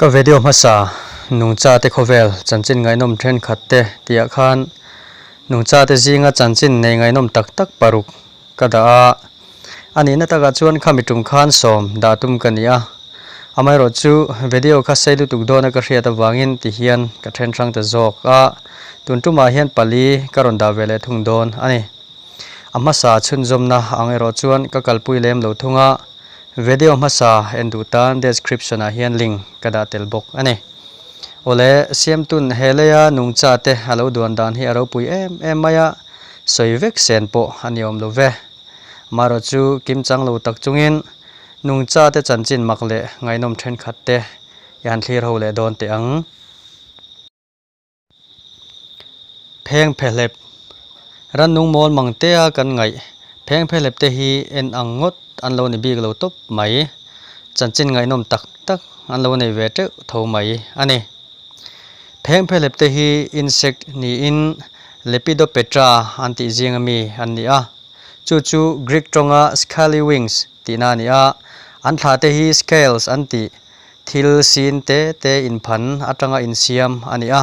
Ka video hmasa nungcha te khawvel chanchin ngaihnawm thenkhat te tihah khan nungcha te zinga chanchin nei ngaihnawm tak tak paruk ka dah a. A nihna takah chuan khami tum khan sawm dah tum ka ni a, amaherawh chu video kha sei lutuk dawna ka hriat avangin ti hian ka then hrang ta zawk a, tun tumah hian pali ka rawn dah ve leh thung dawn a ni. A hmasa chhunzawmna ang erawh chuan ka kalpui lem lo thung a, video hmasa en duh tan description ah hian link ka dah tel bawk a ni. Awle, siamtun he leia nungcha te a lo duan dan hi a ropui em em mai a, Sawi vek sen pawh a ni awm love. Mara chu kim chang lo tak chungin nungcha te chanchin mak leh ngaihnawm thenkhat te i han thlir ho leh dawn teh ang. Phengphehlep, Rannung mawl mang tea kan ngaih phengphehlep te hi en ang ngawt an lo ni bik lo tawp mai. Chanchin ngaihnawm tak tak an lo nei ve teuh tho mai a ni. Phengphehlep te hi insect niin. Lepidopetra an tih zinga mi an ni a, chu chu Greek tawnga scaly wings tihna a ni a, an thla te hi scales an ti, thil sin te te inphan atanga insiam a ni a,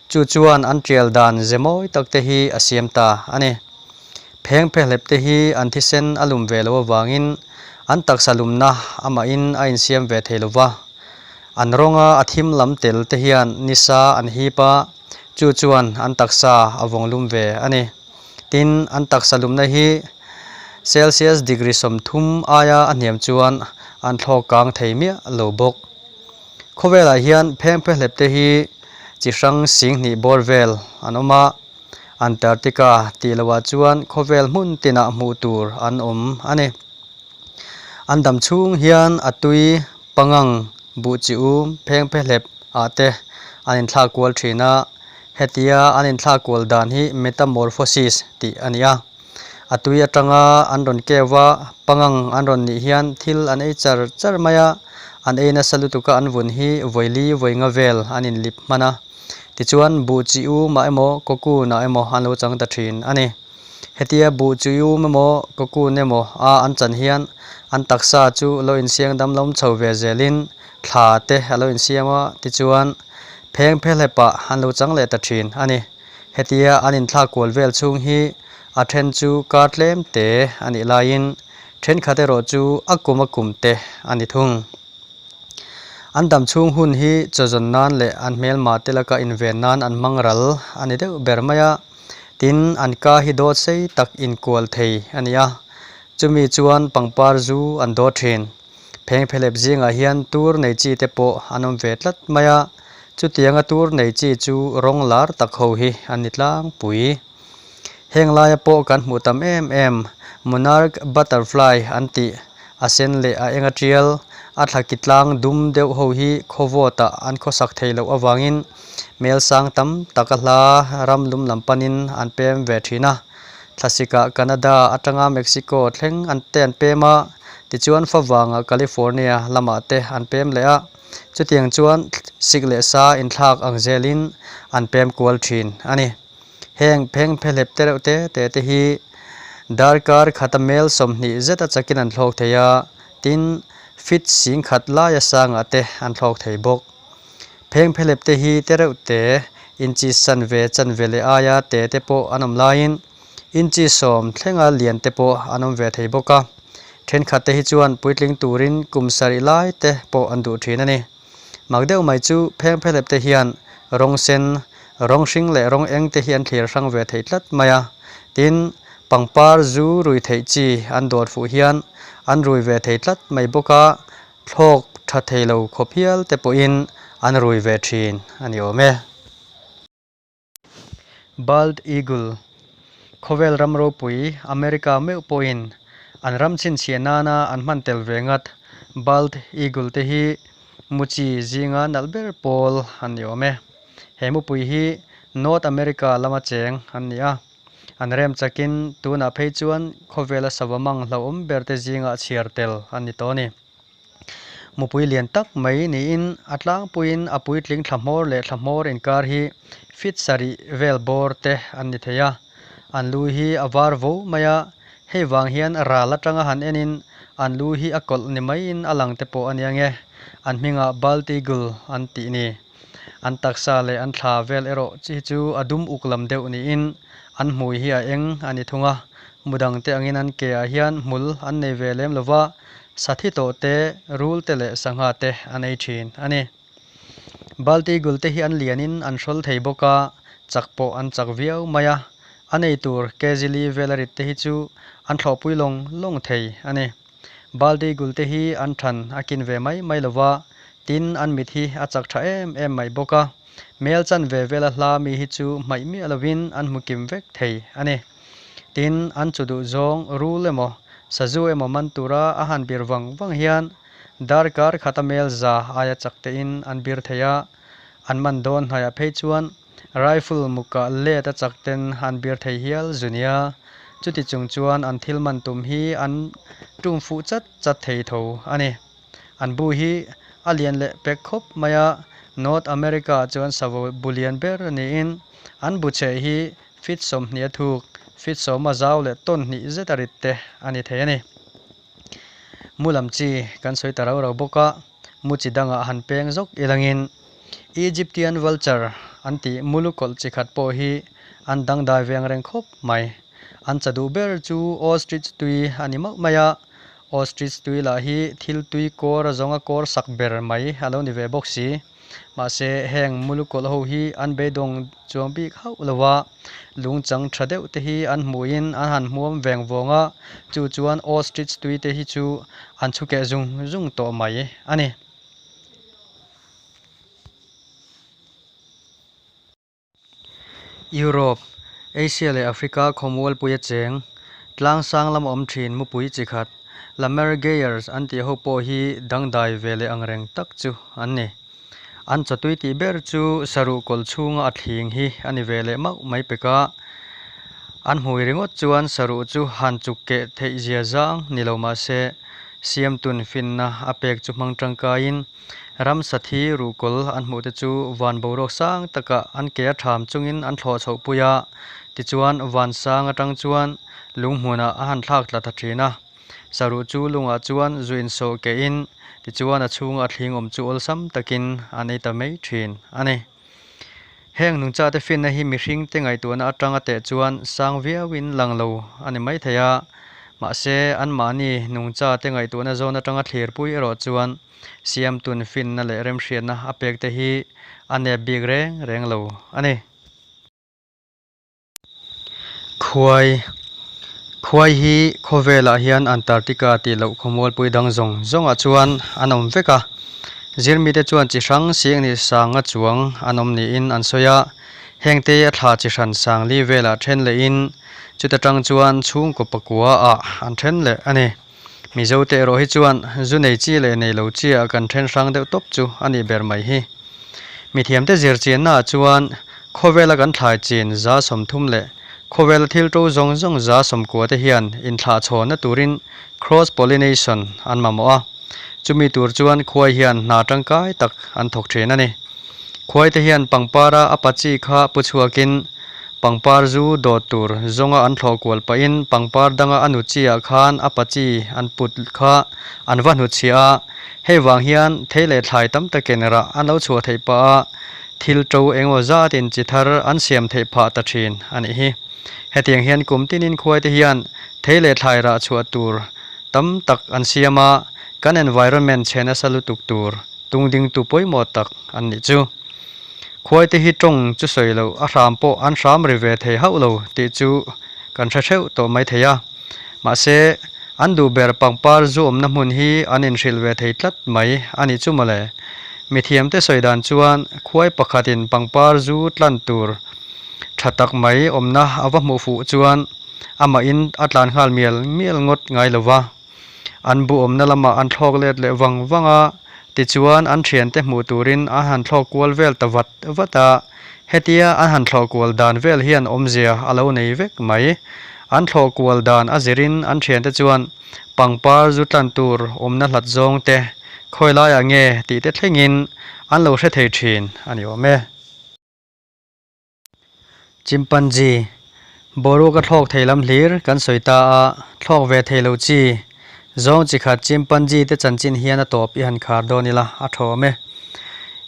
chu chuan an tial dan ze mawi tak te hi a siam ta a ni. Pheng phe hlep te hi an thisen a lum ve lo avangin an taksa lumna amahin a insiam ve thei lo va, an rawnga a thim lam tel te hian nisa an hip a, chu chuan an taksa a vawng lum ve a ni. Tin, an taksa lumna hi Celsius degree sawmthum aia a hniam chuan an thlawk kang thei miah lo bawk. Khawvelah hian phengphe hlepte hi chi hrang sing hnih bawr vel an awm a, Antarctica tih loah chuan khawvel hmun tinah hmuh tur an awm a ni. An dam chhung hian a tui pangang buhchiu phengphehlep ah te an inthlak kual thin a, hetia an inthlak kual dan hi metamorphosis tih a ni a. A tui atanga an rawn keu a, pangang an rawn nih hian thil an ei char char mai a, an ei nasa lutuka an vun hi vawili vawnga vel an inlip hman a, tichuan buhchiu mah emaw cocoon ah emaw an lo chang ta thin a ni. Hetia buh chui um emaw cocoon emaw a an chan hian an taksa chu lo insiang damlawm chho ve zelin thla te a lo insiam a, tichuan pheng phelhepah an lo chang leh ta thin a ni. Hetia an inthlak kual vel chhung hi a then chu kar tlem te a nih laiin thenkhat erawh chu a kum a kum te a ni thung. An dam chhung hun hi chaw zawn nan leh an hmelmah te laka inven nan an hmang ral a ni deuh ber mai a. Tin, an ka hi dawt sei tak inkual thei a ni a, chumi chuan pangpar zu an dawt thin. Phengphelep zingah hian tur nei chi te pawh an awm ve tlat mai a, chutianga tur nei chi chu rawng lar tak ho hi an ni tlangpui. Heng laia pawh kan hmuh tam em em, monarch butterfly an tih, a sen leh a enga tial, a thlaki tlang dum deuh ho hi khawvawtah an khawsak thei loh avangin, hmel sang tam taka hla ram lum lam panin an pem ve thin a, thlasika Canada atanga Mexico thleng an te an pem a, tichuan favanga California lamah te an pem leh a, chutiang chuan sik leh sa inthlak ang zelin an pem kual thin a ni. Heng pheng phe hlep te reuh te te te hi darkar khat amel sawmhnih zeta chakin an thlawk thei a, tin fit sing khat laia sangah te an thlawk thei bawk. Pheng phelep te hi te reuh te inchi san ve chan ve leh aia te te pawh an awm laiin inchi sawm thlenga lian te pawh an awm ve thei bawk a. Thenkhat te hi chuan puitling turin kum sarih lai te pawh an duh thin a ni. Mak deuh mai chu pheng phelep te hian rawng sen, rawng hring leh rawng eng te hi an thlir hrang ve thei tlat mai a. Tin, pangpar zu rui theih chi an dawt fuh hian an rui ve thei tlat mai bawk a, Thlawk tha thei lo khawpial te pawhin an rui ve thin a ni awm e. Bald eagle, khawvel ram ropui, America meuh pawhin an ram chhinchhiah nana an hman tel ve nghat. Bald eagle te hi muchi zinga nalh ber pawl an ni awm e. He mupui hi North America lama cheng an ni a. An rem chakin tunah phei chuan khawvela sava mang hlauhawm berte zingah chhiar tel an ni tawh a ni. Mupui lian tak mai niin a tlangpuiin a puitling thlahmawr leh thlahmawr inkar hi fit sarih vel bawr te an ni thei a. An lui hi a var vo mai a, hei vang hian ral atanga han enin an lui hi a kawlh ni maiin a lang te pawh a nia nge an hmingah bald eagle an tih ni. An taksa leh an thla vel erawh hi chu a dum uk lam deuh niin an hmui hi a eng a ni thung a, mudang te angin an ke ah hian hmul an nei ve lem lova, sathi tawh te, rul te leh sangha te an ei thin a ni. Balti gul te hi an lianin an hrawl thei bawk a, chak pawh an chak viau mai a, a nei tur Kejili vel a rit te hi chu an thlawhpui lawng lawng thei a ni. Baldi gulte hi an ṭhan a kin ve mai mai lo va, tin an mit hi a chak ṭha em em mai bawk a. Mel chan ve vel a hla mi hi chu hmaih miah lovin an hmu kim vek thei a ni. Tin, an chu duh zawng rul emaw, sazu emaw man tura a han bir vang vang hian darkar khata mel za aia chak tein an bir thei a, an man dawn hnaiah phei chuan, Rifle muka let a chak ten an bir thei hial zu nia, chuti chung chuan an thil man tum hi an tum fuh chat chat thei tho a ni. An bu hi a lian leh pek khawp mai a, North America chuan savo bu lian ber niin an bu chhe hi fit sawmhniah thuk, fit sawma zau leh tawn hnih zeta rit te a ni thei a ni. Mu lam chi kan sawi ta rau rau bawk a, mu chi dangah han peng zawk i langin Egyptian vulture an tih mu lu kawlh chi khat pawh hi an dangdai veng reng khawp mai. An cha duh ber chu ostrich tui a ni mauh mai a, ostrich tui lah hi thil tui kawr zawnga kawr sak ber mai a lo ni ve bawk si. Mahse, heng muluk kawlh ho hi an beidawng chuang bik hauh lo a, lungchang tha deuh te hi an hmuhin an han hmuam veng vawng a, chu chuan ostrich tuite hi chu an chhukeh zung zung tawh mai a ni. Europe, Asia leh Africa khawmual pui a cheng, tlang sang lam a awm thin mu pui chi khat, Lamer Gayers an tih ho pawh hi dangdai ve leh angreng tak chu an ni. An chawtui tih ber chu saruh kawlh chhunga a thling hi a ni ve leh mauh mai pek a, an hmui ringawt chuan saruh chu han chuk keh theih zia zang ni lo mah se, siamtun finna a pek chu hmang tangkaiin Ramsathi ruhkawl an hmuhte chu van boruak sang taka an ke a tham chungin an thlawh chhoh pui a, tichuan vansang atang chuan lunghmunah a han thlak tla ta thin a. Saruh chu lungah chuan zu insawh keihin tichuan a chhunga a thlingawm chu awlsam takin an ei ta mai thin a ni. Heng nungcha te finna hi mihring te ngaihtuahna atanga teh chuan sang viauin lang lo a ni mai thei a, mahse anmahni nungcha te ngaihtuahna zawn atanga thlirpui erawh chuan siamtun finna leh remhriatna a pek te hi a nep bik reng reng lo a ni. Khuai, Khuai hi khawvelah hian Antarctica tih loh khawmualpui dang zawng zawngah chuan an awm vek a. Zirmite chuan chi hrang sieng ni sanga chuang an awm niin an sawi a, hengte a thla chi hran sang li velah ṭhen lehin chuta ṭang chuan chhungkaw pakua ah an ṭhen leh a ni. Mizo te erawh hi chuan zu nei chi leh nei lo chi ah kan then hrang deuh tawp chu a nih ber mai hi. Mithiam te zir chin na ah chuan khawvel a kan thlai chin za sawmthum leh khawvel a thil to zawng zawng za sawmkua te hian in thlah chhawn na tur in cross pollination an mamawh a. Chu mi tur chuan khuai hian hna tangkai tak an thawk thin a ni. Khuaite hian pangpara a pa chi kha pu chhuakin pangpar zu dawt tur zawnga an thlawh kual pahin pangpar danga a nu chiah khan a pa chi an put kha an va hnu chhia a, hei vang hian thei leh thlai tam takin rah an lo chhuah theih pah a, thil to engaw zatin chi thar an siam theih phah ta thin a nih hi. Hetiang hian kum tinin khuaite hian thei leh thlai rah chhuah tur tam tak an siam a, kan environment chhen a sa lutuk tur tung ding tu pawimawh tak an nih chu. Khuaite hi tawng chu sawi loh a hram pawh an hram ri ve thei hauh lo tih chu kan hre hreuh tawh mai thei a, mahse an duh ber pangpar zu awmna hmun hi an inhrilh ve thei tlat mai a ni chu mawle. Mithiamte sawi dan chuan khuai pakhatin pangpar zu tlan tur tha tak mai awmna a va hmuh fuh chuan amahin a tlan nghal mial mial ngawt ngai lo va. an buhawmna lamah an thlawk let leh vang vang a, tichuan an thiante hmuh turin an han thlawk kual vel ta vat vat a, hetia an han thlawh kual dan vel hian awmzia a lo nei vek mai. An thlawh kual dan a zirin an thiante chuan pangpar zu tlan tur awmna hlat zawng te, khawi laiah nge tih te thlengin an lo hre thei thin a ni awm e. Chimpanzee, Boruak ka thlawk thei lam hlir kan sawi ta a, thlawk ve thei lo chi. Zawng chi khat Chimpanzee te chanchin hian a tawp i han khar dawn ila, a thawm e.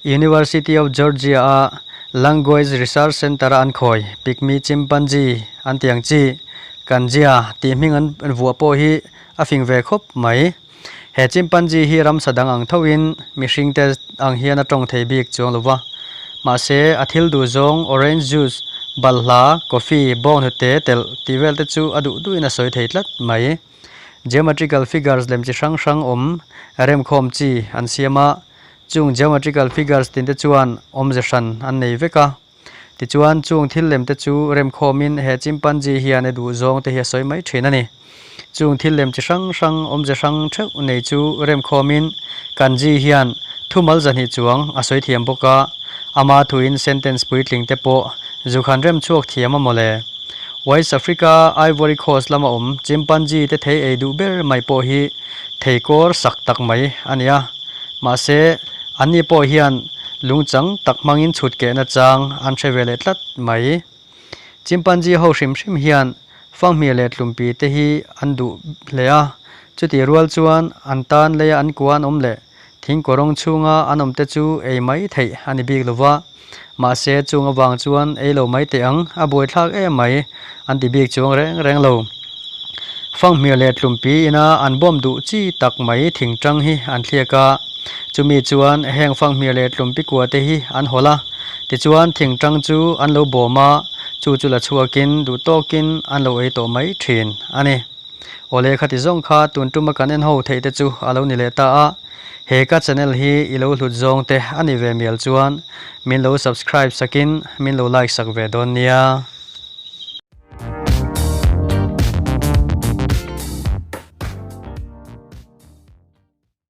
University of Georgia a Language Research Center a an khawi, Pygmy Chimpanzee an tiang chi, kan zia tih hming an vuah pawh hi a fing ve khawp mai. He chimpanzee hi ramsa dang ang thoin mihringte ang hian a tawng thei bik chuang lova. Mahse, a thil duh zawng, orange juice, balhla, coffee, bawng hnute, telh, tih vel te chu a duh duhin a sawi thei tlat mai. Geometrical figures lem chi hrang hrang awm remkhawm chi an siam a, chung geometrical figures tin te chuan awmze hran an nei vek a. Tichuan, chung thil lem te chu rem khawmin he chimpanzee hian e duh zawng te hi a sawi mai thin a ni. Chung thil lem chi hrang hrang, awmze hrang theuh nei chu rem khawmin Kanzee hian thu mal zahnih chuang a sawi thiam bawk a, a ma thuin sentence puitling te pawh zuk han rem chhuak thiam a mawle. Wise Africa Ivory Coast lama awm chimpanzee te thei ei duh ber mai pawh hi thei kawr sak tak mai a ni a, mahse, Anni pawh hian lungchang tak hmangin chhutkehna chang an hre ve leh tlat mai. Chimpanzee ho hrim hrim hian fanghmir leh tlumpi te hi an duh hle a, chutih rual chuan an tan leia an kua an awm leh thingkawrawng chhunga an awmte chu ei mai theih a ni bik lo va. Mahse, chunga vang chuan ei lo mai teh ang, a buaithlak em mai, an ti bik chuang reng reng lo. Fanghmir leh tlumpi ina an bawm duh chi tak mai thing ṭang hi an thliak a, chumi chuan heng fanghmir leh tlumpi kua te hi an hawl a, tichuan thing ṭang chu an lo bawm a, chu chu la chhuakin duh tawkin an lo ei tawh mai ṭhin a ni. Awle khati zawng kha tun ṭuma kan en ho theih te chu a lo ni leh ta a, He ka channel hi i lo hlut zawng te a ni ve mial chuan min lo subscribe sak in min lo like sak ve dawn nia.